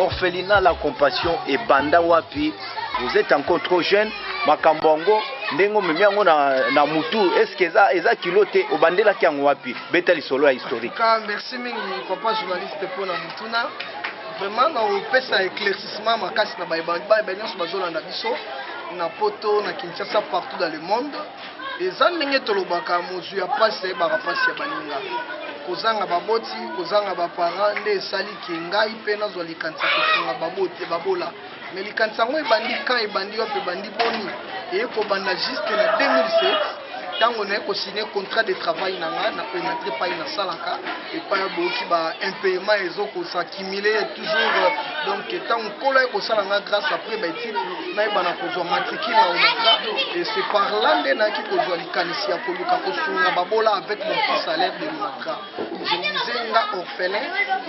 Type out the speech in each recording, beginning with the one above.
orphelinat la compassion ebanda wapi vous êtes encore trop jeune makambo yango ndenge omemi yango na, na mutu eske eza, eza kilo te obandelaki yango wapi beta lisolo ya historique ka merci mingi papa journaliste mpo na motuna vraiment na opesa éclaircissement makasi na baebaiba nyonso bazolanda biso na poto na kinshasa partout dans le monde eza ndenge tolobaka mozwi ya mpasi ayebaka mpasi ya baninga kozanga baboti kozanga baparent nde esali ke ngai mpe nazwa likanisi ya kosunga babola Mais likanisi yango ebandi quand ebandi wapi ebandi boni eye kobanda juste na 2007 ntango naye kosigne contrat de travail na nga na onatre epai nasalaka epai ya boyoki ba impayement ezo kosaccumule toujours euh, donc ntango nkolo aye kosala nga grâce après baetide nayebana kozwa matricule na onatra et c'est par là nde nayaki kozwa likanisi ya koluka kosunga babola avec mon petit salaire de l'onatra Nzela orphelin,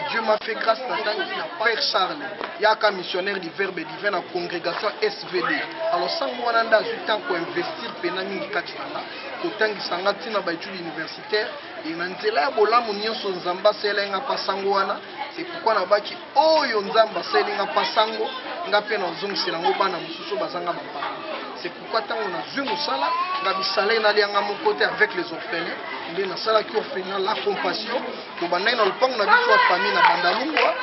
Dieu m'a fait grâce na tango na Père Charles, yaka missionnaire du Verbe divin na congrégation SVD. Alors sango wana nda azwi temps ko investir pena mingi kati na nga, kotangisa nga ntina ba études universitaires et na nzela ya bolamu nyonso Nzambe asalela nga pa sango wana. C'est pourquoi na baki oyo Nzambe asalela nga pa sango, nga pe na zongisi na ngo bana mosusu bazanga ba parents. pourquoi ntango nazwi mosala nga misala ye nalianga moko te avec les orphelins nde nasalaki orphelin la compassion tobandaki na lopango na biso ya famille na bandalungwa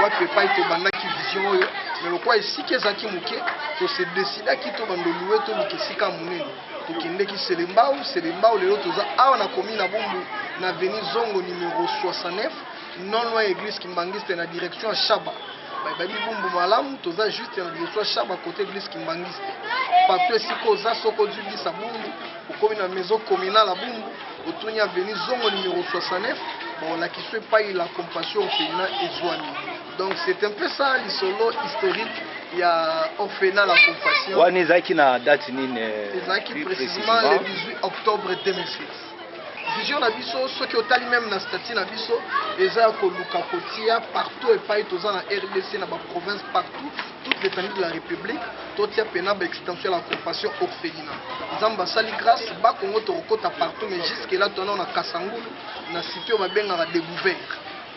wapi epai tobandaki vision oyo me lokola esika ezalaki moke tose desidaki tobanda olue toluka esika monene tokendeki selembao selembao lelo toza awa na komi na bombu na veni zongo numero 69 non loin ya eglise kimbanguiste na direction ya shaba bayebi bumbu malamu toza juste na direction ya shaba cote eglise kimbanguiste partout esika oza soko ozwi bisa bumbu okomi na maison communale ya bumbu otuni aveni zongo numero 69 baolakisa epai la compassion orphelina ezwami donc c'est un peu ça lisolo historique ya orphelina la compassion wana ezalaki na date nini eh, ezalaki plus précisément le précisément? 18 octobre 2006 Vision na biso soki otali meme na statut na biso eza ya koluka kotia partout epai toza na RDC na ba province partout toute l'étendue de la République totia pena ba extension ya la compassion orphelina Nzambe asali grâce ba Congo tokokota partout mais jusque là tona na Kasangulu na site oyo babengaka Debouvert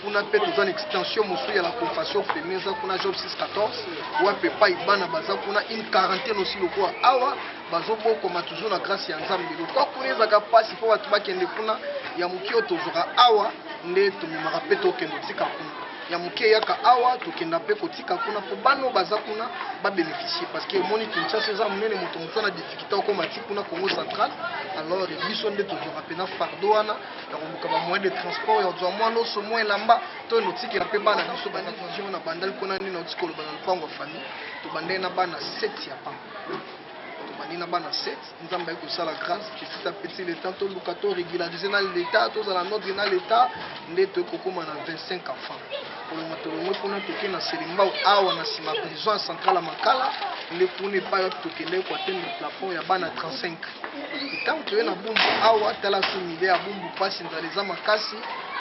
kuna mpe toza na extension mosusu ya la compassion orphelina eza kuna job 614 wapi epai bana baza kuna une quarantaine aussi lokola awa bazo bokoma toujours na grace ya nzambe lokwa kuna ezaka mpasi mpo bato bakende kuna ya moke oyo tozwaka awa nde tomemaka mpe tokende otika kuna ya moke eyaka awa tokenda mpe kotika kuna mpo bana oyo baza kuna babeneficie parce que omoni kinshasa eza monene moto moto na difficulté okoma ti kuna congo central alors biso nde tozwaka mpena fardo wana ya koluka bamoyen de transport ya kozwa mwa loso mwa elamba to notikela mpe bana biso bana vision na bandali kuna nde nauti koloba na lopango ya famille tobandai na bana 7 ya pamba tobandi na bana 7 nzambe ayi kosala grâce petit à petit leta toluka to régulariser na leta tozala nodre na leta nde toyei kokóma na 25 enfants kolonga tolongwe kuna toke na selimbao awa na nsima prison ya centrale ya makala nde kuna epai wapi tokendeki koatendre plafond ya bana 35 ntango toye na bumbu awa tala su mile ya bumbu mpasi nzala eza makasi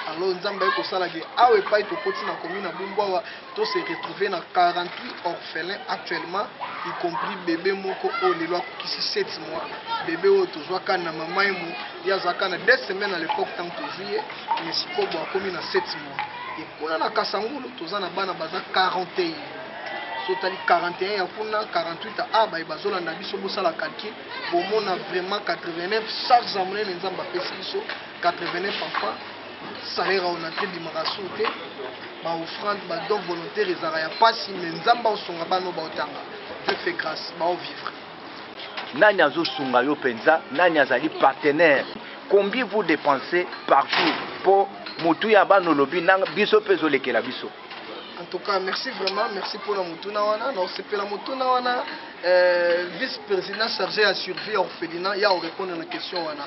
alors nzambe ayi kosala ke awa epai tokoti na komi na bumbu awa To se retrouver na 48 orphelins actuellement, y compris bebe moko oyo lelo akokisi 7 mois. Bebe oyo tozua ka na mama ye mo, ye aza ka na 2 semaines à l'epoque tango tozui ye, mais sikoyo bo akomi na 7 mois. Et kuna na Kasangulu toza na bana baza 41. so tali 41 ya kuna 48 a ah, baye bazolanda biso bosala calcul bomona vraiment 89 charge ya monene nzambe apesi biso 89 papa salaire ya onatre ebimaka sur te ba offrande ba don volontaire ezalaka ya pasi mais nzambe aosunga bana oyo baotanga dieu fait grâce baovivre nani azosunga yo mpenza nani azali partenaire combien vous dépensez par jour mpo motu ya bana olobi na biso mpe ezolekela biso En tout cas, merci vraiment, merci pour la mutuna wana. Non, c'est pour la mutuna wana. Euh, vice-président chargé à survie orphelinat, il y a répondre à la question wana.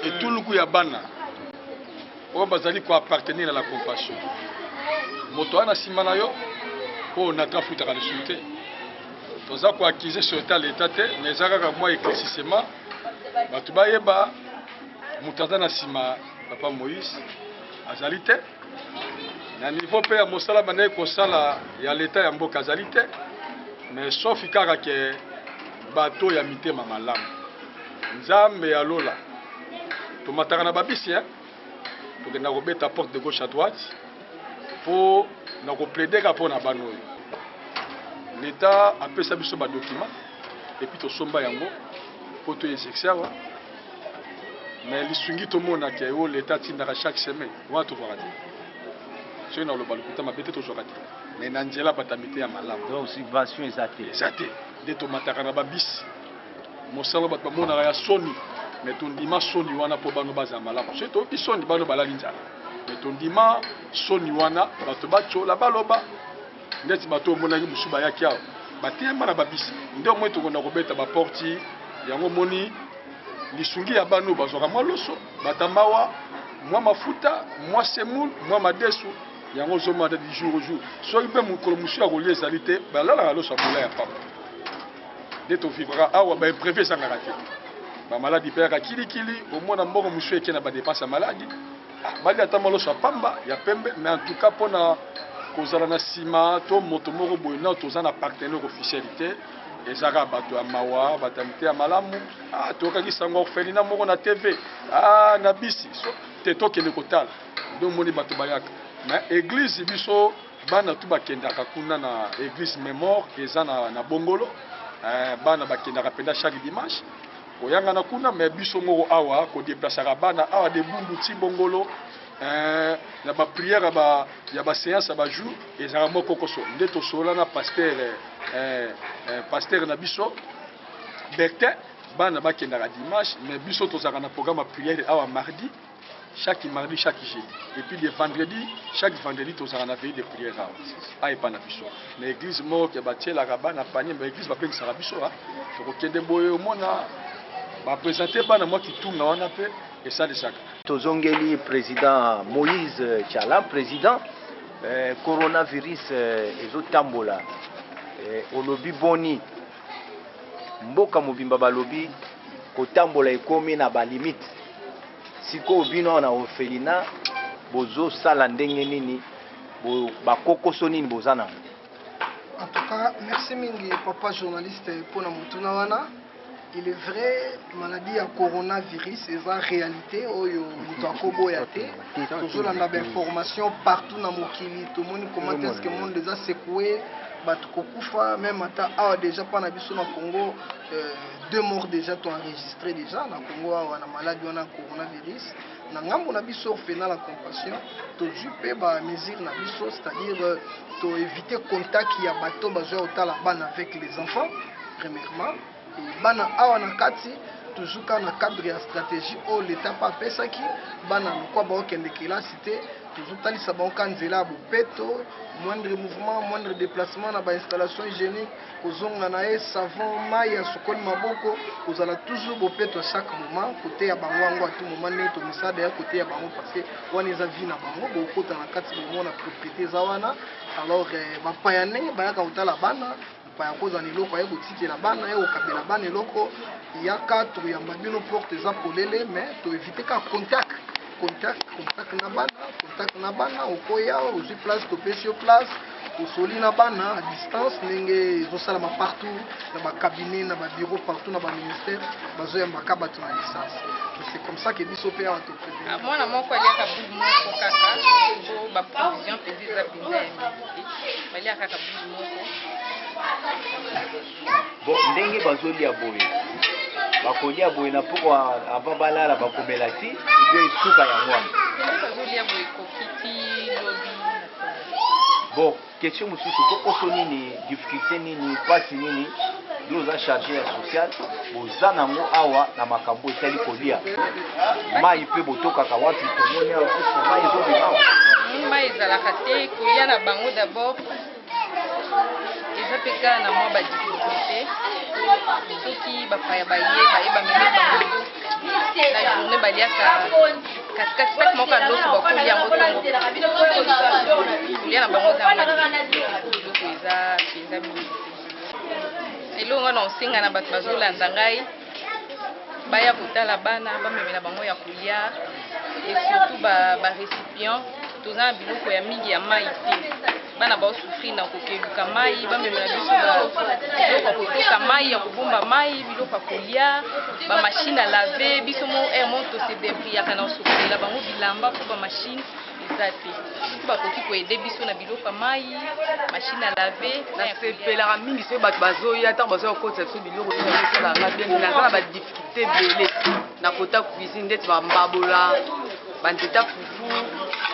Et tout le coup ya bana. Oyo bazali ko appartenir à la compassion. Moto wana sima na yo po na ka futa ka lisumu te. Toza ko accuser sur état l'état te, mais eza kaka mwa éclaircissement. Bato bayeba moto aza na sima papa Moïse azali te na niveau mpe ya mosala bandaki kosala ya leta ya mboka azali te mais sofi kaka ke bato ya mitema malamu nzambe ya lola tomataka na babisi hein? tokenda kobeta porte de gauche à droite mpo na kopledeka mpo na bana oyo leta apesa biso badokima epuis tosomba yango mpo toexerce awa Mais lisungi tomona ke oyo l'etat atindaka chaque semaine wana tozwaka te. Soki naloba lokuta mabe te tozwaka te. Mais na nzela bato ya miteya malamu. Donc subvention eza te? Eza te nde tomataka na ba bus mosala bato bamonaka ya soni mais tondima soni wana po bana bazala malamu. Soki toyoki soni bana balali nzala mais tondima soni wana bato batyola baloba. Ndeti bato oyo omonaki mosusu bayaki awa bateyama na babisi nde omoni tokonda kobeta baporti yango omoni lisungi ya bana oyo bazwaka mwa loso batambawa mwa mafuta mwa semoul mwa madesu yango ozomata du jour au jour soki mpe mokolo mosusu ya kolia ezali te balalaka loso ya bola ya papa nde tovivraka awa baimprevu ezangaka te bamaladi mpe yaka kilikili omona mbongo mosusu eke na badepense ya maladi Balia ata mwa loso ya pamba, ya pembe, mais en tout cas mpo na kozala na sima to moto moko boye nao toza na partenaire officiel te eza kaka bato ya mawa bato ya miteya malamu ah, toyokaki sango orphelina moko na tv ah, na bisi so, te tokende kotala nde omoni bato bayaka na eglize biso bana tu bakendaka kuna na eglize memore eza na, na bongolo eh, bana bakendaka mpenza chaque dimanche Koyangana kuna mais biso moko awa ko deplaceaka bana awa de Bundu ti Bongolo eh, na ba prière ya ba ya ba séance ya ba jour ezalaka moko koso nde tosola na pasteur eh, eh, eh pasteur na biso Bertin bana bakendaka dimanche mais biso tozalaka na programme ya prière awa mardi chaque mardi chaque jeudi et puis le vendredi chaque vendredi tozala na veille de prière awa a epa na biso na église moko ke batielaka bana panie ba église babengisaka biso a tokokende boye omona bapresente bana mwa kitunga wana mpe esalisaka tozongeli président moïse chala président eh, coronavirus eh, ezotambola eh, olobi boni Mboka mobimba balobi kotambola ekomi na ba limite sikoyo bino awa na orphelina bozo sala ndenge nini bo ba kokoso nini boza nango. En tout cas, merci mingi papa journaliste pona motuna wana. Il est vrai maladie ya coronavirus eza realite oyo moto akoboya te. tozolanda ba information partout na mokili tomoni comment est-ce que monde eza secoue bato kokufa meme ata awa déjà mpa na biso na congo euh, deux morts déjà to enregistré déjà na congo awa na maladi wana coronavirus na ngambo na biso orphenal ya compassion tozwi mpe bamesure na biso c'est-à-dire euh, toevite contact ya bato bazwa kotala bana avec les enfants premièrement Bana awa na kati toujours kaka na cadre ya stratégie oyo leta mpe apesaki bana lokwa baokende kelasi te tozotalisa bango ka nzela ya bopeto moindre mouvement moindre déplacement na bainstallation hygiénique kozonga na ye savon mai ya sokoli maboko kozala toujours bopeto chaque moment koteya bango yango atu moment ndenge tomisada ya koteya bango parce que wana eza vie na bango bokota na kati bomona propriété eza wana alors eh, bapaya ndenge bayaka kotala bana Paya akozala na eloko aye kotikela bana, aye kokabela bana eloko yaka toyamba bino porte eza polele mais to evite ka contact contact contact na bana contact na bana okoya ozwi place topesi yo place osoli na bana à distance ndenge ezosalama partout na bacabinet na babiro partout na baministère bazoyambaka bato na distance c'est comme ça que biso mpe awa toprepare ah, mwana moko aliaka bulu moko kaka po baprovision mpenza eza mpenza balia kaka bili moko bo ndenge bazolia boye bakolia boye na poko ava balala bakomela ti ebe esuka yango wana bazolia boye ekoki ti lobi bo question mosusu kokoso nini difficulté nini mpasi nini yo oza charge ya sociale Toza na yango awa na makambo etali kolia mai mpe botokaka wapi tomoni awa kusa mai ezobima hmm, mai ezalaka te kolia na bango dabord eza mpe kaka na mwa badifikulte soki bapaya baye baye bamemi bango na journe baliaka katikati saki moko ya loso bakolia yango ntongo kolia na bango eza yango eza mpenza mingi eloko wana osenga na bato bazolanda ngai baya kotala bana bamemela bango ya kolia et surtout ba, ba récipients toza na biloko ya mingi ya mai te bana baosufrir na kokeluka mai bamemela biso biloko ya kotoka mai ya kobomba mai biloko ya kolia bamashine alave biso mo air eh, mo tosedebriyaka na kosokolela bango bilamba mpo bamashine eza te soki bakoki koede biso na biloko ya mai machine à laver nasepelaka mingi soki bato bazoya ntango bazoya kokotisa biso biloko esalanga bien naza na badifficulté ebele na kota cuisine ndeti bambabola banzete ya fufu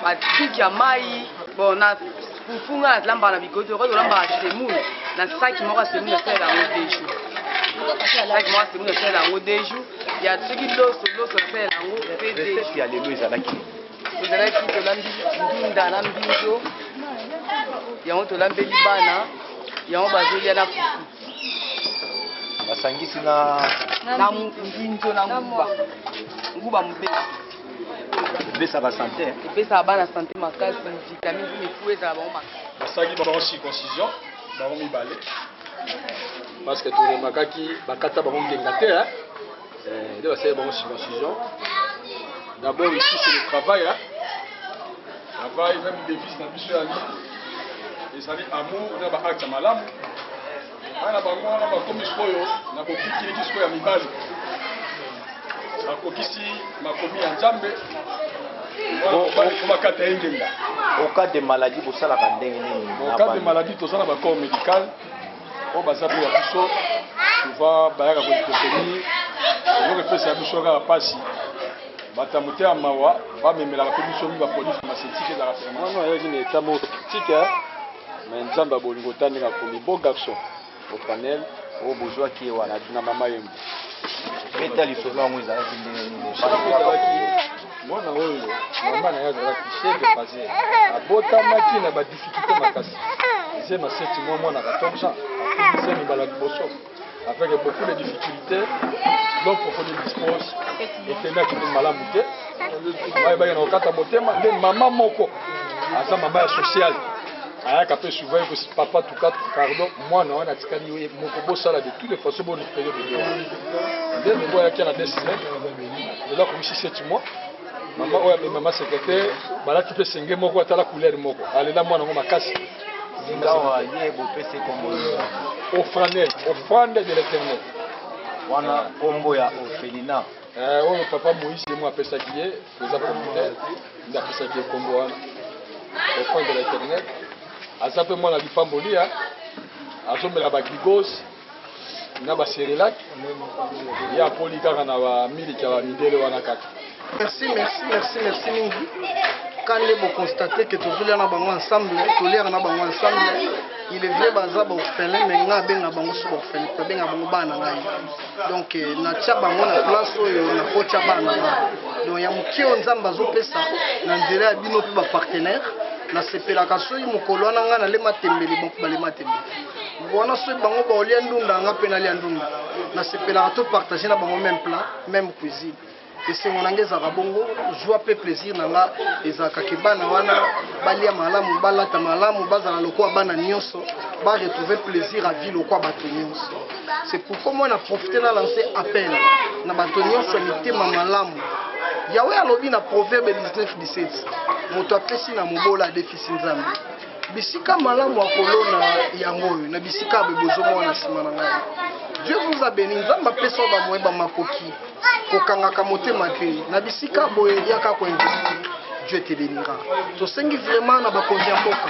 batiki ya mai bon na fufu ngai nazilambaka na bikoti okoki kolambaka semoule na saki moko ya semoule nasalela yango deux jours saki moko ya semoule nasalela yango deux jours ya soki loso loso nasalela yango mpe deux jours ya lelo ezalaki tozalaki tolambi ndunda na mbinzo yango tolambeli bana yango bazolia na fufu basangisi na na mbinzo na nguba nguba mobeli epesaka sante epesaka bana sante makasi vitamine mpe mifu ezala bango makasi basalaki bango circoncision bango mibale parce que toremakaki bakata bango ngenga te Eh, nde basali bango circoncision d'abord ici c'est le travail hein? travail même devise na biso yangi ezali amour na baacte ya malamu bana bango wana bakomi sikoyo na bokikiliki sikoyo ya mibali bakokisi makomi ya nzambe bakata ye ngenga au cas de maladie bosalaka ndenge nini au cas de maladie toza na bacor médical oyo baza mpe ya biso souvent bayaka koekotenir eloko epesaka biso kaka mpasi bato ya motema mawa bamemelaka mpe biso mi bapolisi na masetike ezalaka vraiment non ayaki na etat moko critique mais nzambe ya bolingo ta ndenge akomi beau garçon au panel oyo bozwaki ye wana na mama yembo beta lisolo yango ezalaki ndenge nini Mwana oyo mama na ye azalaki chef de phase, abotamaki na ba difficultés makasi. Ze ma seti mwa mwana 14 ans, ze mibala liboso avec beaucoup de difficultés, donc kokoni dispose ekendaki ni malamu te. Baye baye na kokata motema nde mama moko aza mama ya sociale ayaka mpe souvent ekosi papa tuka pardon mwana wana atikali ye moko bosala de toutes les façons bo récupérer bebe wana nde bebe ayaki na desine lelo akomisi 7 mois mama oyo amemi mama secrétaire balati mpe senge moko atala couleur moko alela mwana yango makasi sikawa ye bopesi kombo ofranel ofrande de l'éternel wana kombo ya ofelina eh, oyo papa moïse ye mwa apesaki ye eza communautaire nde apesaki ye kombo wana ofrande de l'éternel aza mpe mwana lipamboli azomela bagigose na ba cerelac ye apoli kaka na ba miliki ya bamidele wana kaka merci merci merci merci mingi kande boconstate ke tozolia na bango ensemble toliaka na bango ensemble il est vrai baza baorphelin mais nga abenga bango so baorphelin abenga bango bana ngai donc eh, natya bango na place oyo nakotya bana nga donc ya moke oyo nzambe azopesa na nzela ya bino mpe bapartenaire nasepelaka soki mokolo wana ngai nalema tembele balema tembele Wana soki bango baolia ndunda nga mpe nalia ndunda, nasepelaka to partager na bango meme plat, meme cuisine. Esengo na nga ezalaka bongo, joie mpe plaisir na nga ezalaka ke bana wana balia malamu, balata malamu, bazala lokola bana nionso, ba retrouver plaisir à vie lokola bato nionso. C'est pourquoi moi na profiter na lancer appel na bato nionso ya mitema malamu. Yahweh alobi na Proverbe 19:17, moto apesi na mobola adefisi Nzambe. bisika malamu ya kolona yango oyo na bisika ya bozomona na nsima na ngai dieu vous a béni nzambe apesa yo bamoye bamakoki kokangaka motema te na bisika boye yaka koinvestir dieu te bénira tosengi vraiment na bakonzi ya mboka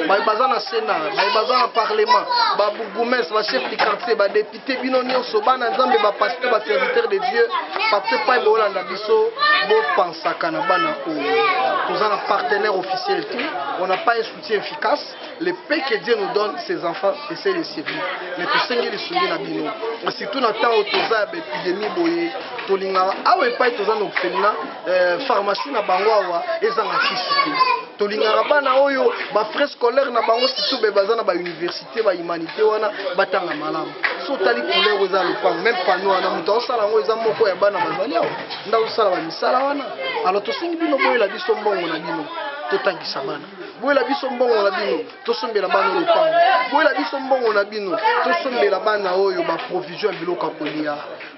baye baza na sénat baye baza na parlement babourgoumestre bachef du quartier badepute te bino nyonso bana nzambe bapasteur baserviteur de dieu papa epai boolanda biso bopansaka na bana oyo toza na partenaire officiel te on a pas un soutien efficace le peu que dieu nous donne ses enfants essaye de servir mais tosengi lisungi na bino surtout na ntango toza ya baepidemie boye tolingaka awa epai toza na ofemina euh, pharmacie na bango awa ezanga kisi te tolingaka bana oyo bafrais scolaire na bango surtout be baza na bauniversité te ba humanité wana batanga malamu so otali couleur eza lopango meme pano wana moto aosala yango eza moko ya bana bazali awa nde aosala bamisala wana alors tosengi bino boyela biso mbongo na bino totangisa bana boyela biso mbongo na bino tosombela bana lopango boyela biso mbongo na bino tosombela bana oyo baprovision ya biloko ya kolia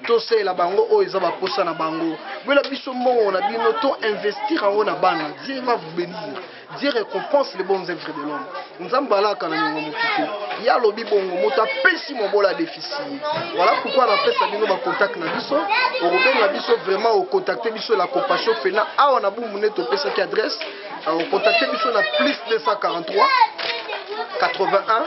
tosalela bango oyo eza baposa na bango boyela biso mbongo na bino to investir yango na bana dieu va vous benir Dieu recompense les bonnes œuvres de l'homme. Nzambe alaka na nyongo moto te. Ye alobi bongo moto apesi mobola adefisi ye. Voilà pourquoi napesa bino ba contact na biso. Okobenga biso vraiment ocontacte biso la compassion fena awa na bumbu nde topesaki adresse. Ocontacte biso na plus 243 81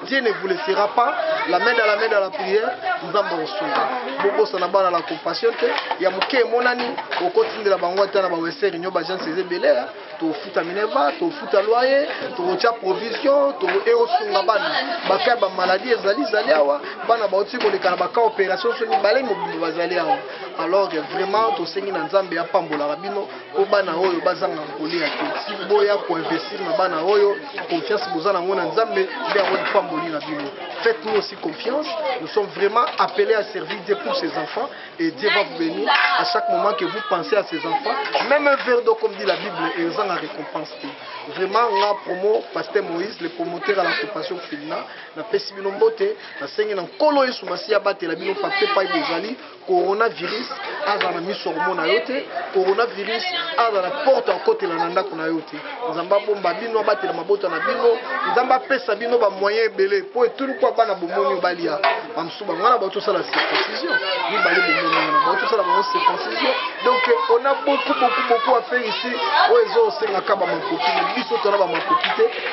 Dieu ne vous laissera pas la main dans la main dans la prière nzambe akosunga bobosana bana la compassion te ya moke emonani okotindela bango ata na baweseri nyo bagence eza ebele ya tofuta minerva tofuta loye tokotya provision eosunga bana bakai bamaladi ezali zali awa bana bauti koleka na baka opération so mibale mobimba bazali awa alors vraiment tosengi na nzambe apambolaka bino mpo bana oyo bazanga kolia te boya koinvestir na bana oyo confiance boza nango na nzambe nde yango lipamboli na bino faites nous aussi confiance nous sommes vraiment appelés à servir dieu pour ces enfants et dieu va vous bénir à chaque moment que vous pensez à ces enfants même un verre d'eau comme dit la bible ezanga récompense te vraiment nga promo pasteur moïse le promoteur à la compassion filina napesi bino mbote nasengi na nkolo yesu masiya abatela bino pape pai bozali coronavirus aza na miso ya komona yo te coronavirus aza na porte ya kokotela na ndako na yo te nzambe abomba bino abatela mabota na bino nzambe apesa bino bamoyen ebele mpo etulu mpo abana bomoni yo balia bamosusu bango wana baotosala circoncision mibale bomoni wana baotosala bango circoncision donc on a beaucoup beaucoup beaucoup affaire ici oyo ezosengaka bamakoki biso tona bamakoki te